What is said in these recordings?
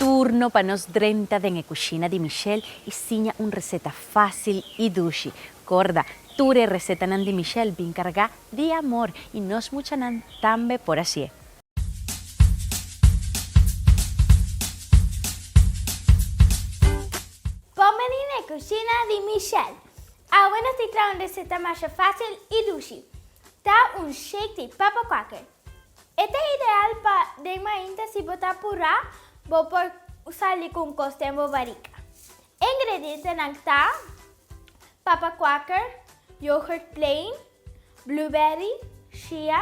Turno pa nos drenta den e kushina di Michelle i siña un reseta fásil i dushi. Korda, tur e resetanan di Michelle bin kargá di amor i nos muchanan tambe por hasié. Kòmedi n'e kushina di Michelle. Awe nos tin traha un reseta masha facil y dushi. Ta un shake di papa quaker. E ta ideal pa den mainta si bo ta apura, bo por sali cu un cos den bo barica. E ingredientenan ta, papa quaker, yoghurt plain, blueberry, chia,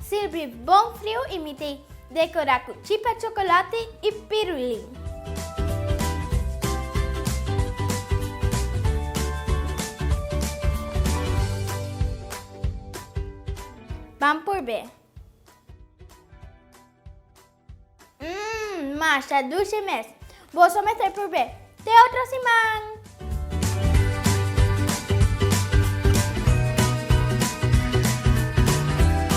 Sirbi bon friu y mi te decora cu chipa chocolate y pirulin. Ban purbe. Mmm, masha dulce mes. Boso mester purbe. Te otro siman!